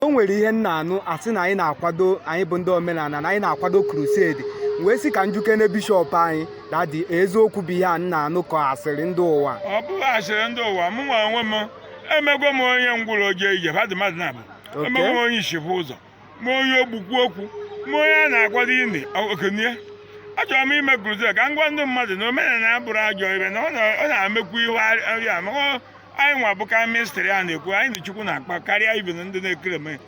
o nwere ihe m na-anụ a sị na anyị na-akwado anyị bụ ndị omenala na anyị na-akwado crusade wee sị ka m jụkene bishọp anyị dadi eziokwu bụ ihe a m na-anụ ka ọ asịrị ndị ụwa ọ bụghị asịrị ndị ụwa mụ nwa onwe m emego m onye ngwụrọ o jee ije ba dị mmadụ naabọ Okay. emego m onye isi hụ ụzọ ma onye ogbi kwuo okwu ma onye a na-akwado ini o kunie achọrọ m ime crusade ka m gwa ndị mmadụ na omenala abụrọ ajọ ife na ọ na- ọ na-emekwu ihe arịama ọ anyị nwa bụ ka mystery a na-ekwu anyị na chukwu na-akpa karịa ibe na ndị na-ekere eme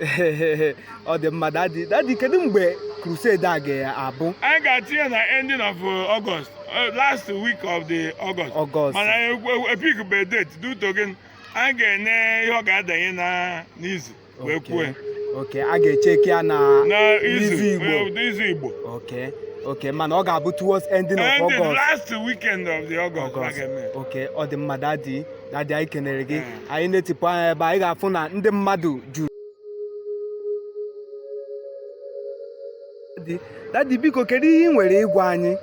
ọ dị mma dadi dadi kedu mgbe crusade a ga-abụ anyị ga-atinye na ending of uh, August uh, last week of the August August. mana anyị ekwu- ekwu- epik be date due to gịnị anyị ga-ene ihe ọ ga-adanye na n'izu wee kwue okay a ga-echeki ya na izu igbo izu igbo okay okay mana ọ ga-abụ towards ending of August last weekend of the August okay ọ dị mma dadi dadi anyị kenere gị hmm. anyị na-etipụ anya ebe anyị ga-afụ na ndị mmadụ juru dadi biko kedu ihe ị nwere ịgwa anyị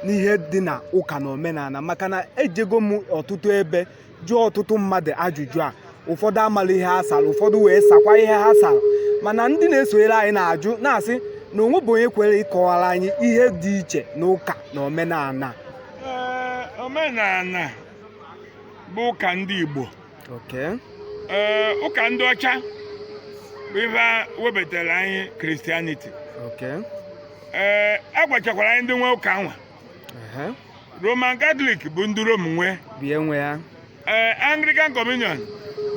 n'ihe dị na ụka na omenala maka na ejego m ọtụtụ ebe jụọ ọtụtụ mmadụ ajụjụ a ụfọdụ amala ihe ha sara ụfọdụ wee sakwa ihe ha sara mana ndị na-esonyere anyị na-ajụ na-asị na o nwebụ onye kwere ịkọwara anyị ihe dị iche na ụka na omenala Ee, omenala bụ ụka ndị Igbo okay. Ee, ụka ndị ọcha bụ ife a webatara anyị Christianity Okay. ee a gwachakwara anyị ndị nwe ụka nwa Ehe, Roman Catholic bụ ndị Rome nwe bie nwe ya ee anglican communion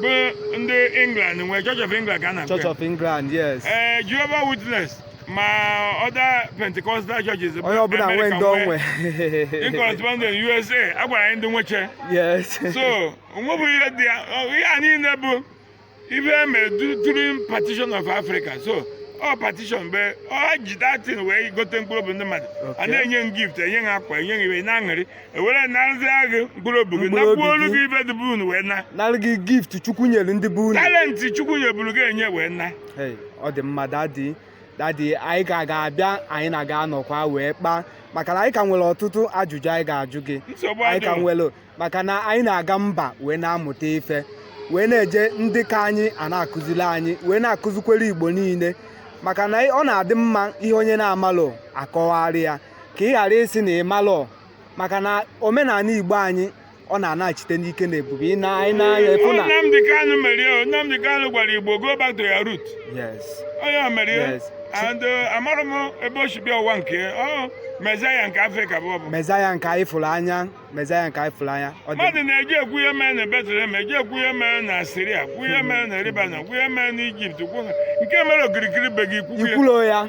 bụ ndị england nwe church of england ka a na-akpọ church ya. of england yes ee Jehovah Witness ma other pentecostal churches bụ onye ọbụla nwee America ndị o nwe in correspondent usa a gwara anyị ndị nweche yes so o nwebụ ihe dị ya ọ- ihe a niile bụ ife e mere during partition of Africa so ọ partition mgbe ọ ji that thing wee gote mkpụrụ obi ndị mmadụ a na-enye gift enye ha akwa enye ha ife na-aṅụrị ewere narụzia gị mkpụrụ obi gị Mkpụrụ obi nakwuo olu gị. gị ife dị be unu wee na nara gị gift chukwu nyere ndị be unu talenti chukwu nyeburu gị enye wee na Hey, ọ dị mma dadi dadi anyị ka ga-abịa anyị na gị anọkwa wee kpaa maka na anyị ka nwere ọtụtụ ajụjụ anyị ga-ajụ gị nsogbu anyị ka adịghị nwere maka na anyị na-aga mba wee na-amụta ife wee na-eje ndị ka anyị a na-akụziri anyị wee na-akụzikwere igbo niile maka na ọ na-adị mma ihe onye na-amalụ a kọwara ya ka ị ghara ịsị na ị malụ maka na omenala igbo anyị ọ na-anachite n'ike na ebube ị na anyị na-anya efu na Nnamdi Kanu mere ya Nnamdi Kanu gwara Igbo go back to your root yes onye o mere ya Yes. and uh, amarọ m ebe o si bịa ụwa nke ya. ọ Messiah nke Afrịka bụ ọ bụ Messiah nke anyị fụrụ anya Mezaịa nke anyị fụrụ n'anya ndị mmadụ na-eji ekwu ihe mere na Betlehem eji ekwu ihe mere na Siria kwu ihe mere na Libanon kwu ihe mere na Ijipt kwu nke mere okirikiri be gị kwuo ya ikwulo ya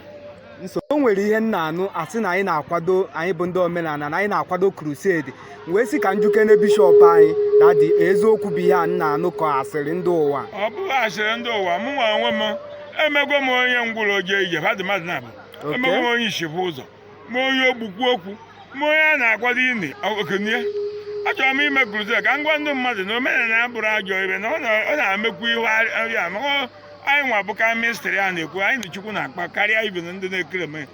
nso o nwere ihe m na-anụ asị na anyị na-akwado anyị bụ ndị omenala na anyị na-akwado krusedi wee sị ka m jụkene bishọp anyị dadi eziokwu bụ ihe a m na-anụ ka asịrị ndị ụwa ọ bụghị asịrị ndị ụwa mụ nwa onwe m emego m onye ngwụrọ o jee ije ndị mmadụ na-abụ Okay. emego m onye ishi fụ ụzọ ma onye ogbu kwuo okwu ma onye a na-akwado ini o kunie achọrọ m ime kruzed ka m gwa ndị mmadụ na omenala abụrọ ajọ ihe na ọ na- ọ na-emekwu ihe arịma ọ- anyị nwa bụ ka mistri a na-ekwu anyị na chukwu na-akpa karịa ibe na ndị na-ekere eme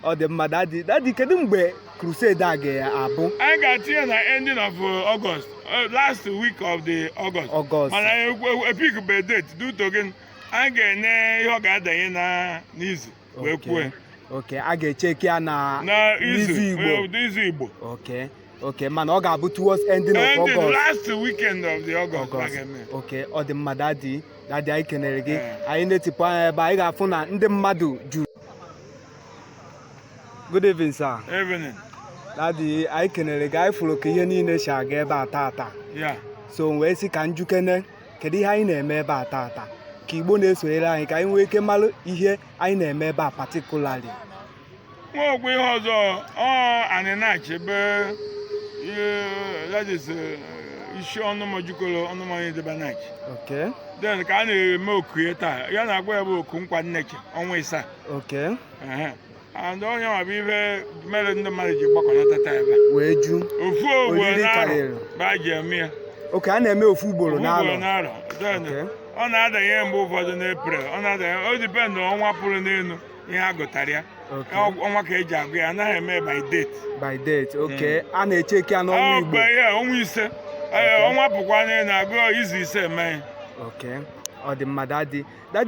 ọ dị mma dadi dadi kedu mgbe crusade a ga-abụ anyị ga-atinye na ending of uh, August uh, last week of the August August. mana epik be date due to gịnị anyị ga-ene ihe ọ ga-adanye na n'izu wee kwuo ya oke a ga-echeki ya na na izu n'izu Igbo eh, ụdị izu Igbo oke oke mana ọ ga-abụ towards ending of Ending August last weekend of the August August. a ga-eme. oke ọ dị mma dadi dadi anyị kenere gị Eh. anyị na-etipụ anya ebe anyị ga-afụ na ndị mmadụ juru good evening sir Evening. dadi anyị kenere gị anyị fụrụ ka ihe niile si aga ebe a taata Yeah. so wee sị ka m jụkene kedu ihe anyị na-eme ebe a taata ka Igbo na-esonyere anyị ka anyị nwee ike mara ihe anyị na-eme ebe a particularly nwa okwu ihe ọzọ ọ Anị Nachi ebe a that is eh, isi ọnụma jikọrọ ọnụma onye debe Nachi oke then ka a na-eme oku ya taa ya na-agwa ya bụ oku nkwa nneche ọnwa ịsaa oke Ehe. ndị onye ọ bụ ife mere ndị mmadụ ji gbakọnata taa ebe a. wee ju ofu ugboro n'arọ karịrị. ba ji eme ya oke a na-eme ofu ugboro Ofu ugboro n'alọ n'arọ Then, Okay. ọ na-adanye mgbe ụfọdụ n'Eprel ọ na-adanye o dipendụ ọnwa pụrụ n'elu ihe a gụtara ya Okay. Ọ- ọnwa ka eji agụ ya anaghị eme by date by date oke a na-echeki ya n'ọnwa Igbo gbe ya ọnwa ise Ee, ọnwa pụkwa n'elu agụ izu ise mee ya oke ọ dị mma dadi dadi